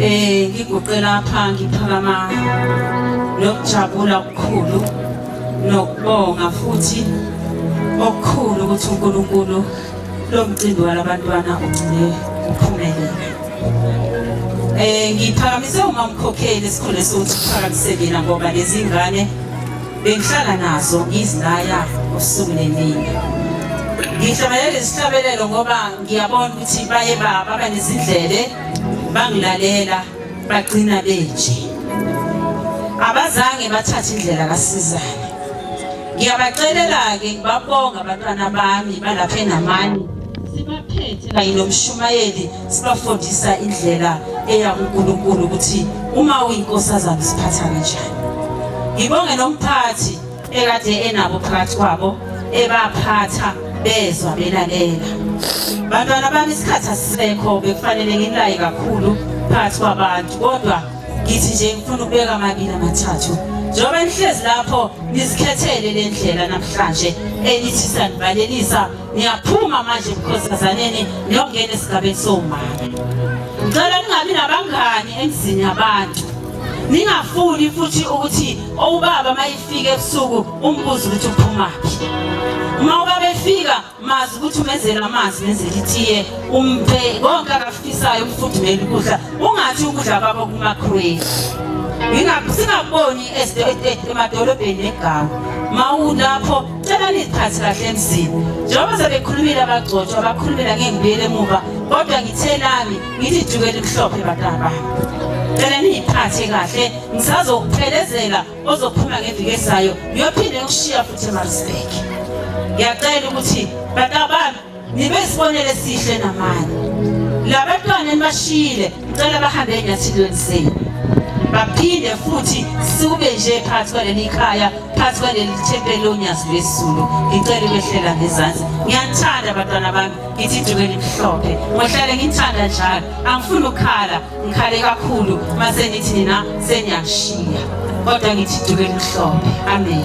Eh ngiguqe lapha ngiphakama nokujabula okukhulu nokubonga futhi okukhulu ukuthi uNkulunkulu lo mcimbi walabantwana ugcine uphumelele. Eh ngiphakamise uma mkhokheli sikhona sokuthi phakamise mina ngoba lezingane bengihlala nazo ngizilaya usuku nemini. Ngihlanganyele isihlabelelo ngoba ngiyabona ukuthi baye baba banezindlebe bangilalela bagcina benje abazange bathathe indlela kasizana ngiyabacelela-ke ngibabonga abantwana bami balapha enamani sibaphethe kanye nomshumayeli sibafundisa indlela eya kunkulunkulu ukuthi uma uyinkosazana siphatha kanjani ngibonge nomphathi ekade enabo phakathi kwabo ebaphatha bezwa belalela bantwana bami isikhathi asisekho bekufanele nginilaye kakhulu phakathi kwabantu kodwa ngithi nje ngifuna ukubeka amabili amathathu njengoba nihlezi lapho nizikhethele le ndlela namhlanje enithi sanivalelisa niyaphuma manje ebukhosazaneni niyongena esigabeni somama ngicela ningabi nabangani emzini yabantu ningafuni futhi ukuthi Ubaba mayifika ebusuku umbuzo ukuthi uphumaphi. Uma ubaba efika mazi ukuthi umenzela amanzi nenzela itiye umphe konke akafisayo umfudumela ukudla ungathi ukudla kwabo kuma-crave singaboni emadolobheni negama mawulapho cela niziphathi kahle emzini njengoba sebekhulumile abagcotshwa bakhulumela ngengibuyela emuva kodwa ngithe nami ngithi juke elimhlophe bantwana bami cela niyiphathe kahle ngisazokuphelezela ozophuma ngeviki ezayo ngiyophinde ngikushiya futhi emarisburg ngiyacela ukuthi bantwana bami nibe isibonelo esihle namanye labantwana enibashiyile ngicela bahambe enyathilweni zenu baphinde futhi sibe nje phansi kwaleli khaya phansi kwaleli thempeli lonyazi lwesizulu ngicela ubehlela ngezansi ngiyathanda abantwana bami Ithi duke elimhlophe ngohlale ngithanda njalo angifuni ukukhala ngikhale kakhulu mase nithi nina seniyashiya kodwa ngithi duke elimhlophe amen